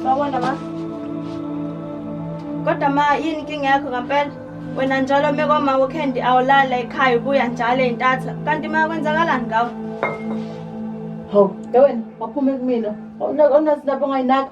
Sawona ma. Kodwa ma yini inkinga yakho ngempela? Wena njalo uma kwama uKendi awulala ekhaya ubuya njalo entatha. Kanti ma kwenzakalani ngawe? Hawu, ke wena waphuma kumina. Awunazi lapho ngayinaka.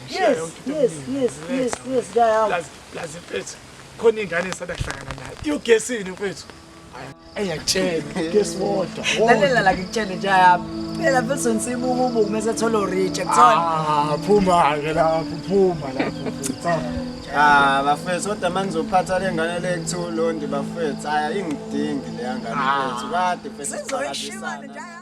yes yes yes yes yes ngiyahamba lazi mfethu khona ingane esanda kuhlangana nayo iyogesini mfethu ayakutshela gesi wodwa lalela la ngikutshele nje yami phela mfethu nsibuka ubuku mese thola orija kuthola ah, phuma ke lapho phuma lapho Ah bafethu kodwa manje uzophatha lengane le kuthiwa ulondi bafethu aya ingidingi leya ngane ah. mfethu kade mfethu sizoyishimana njalo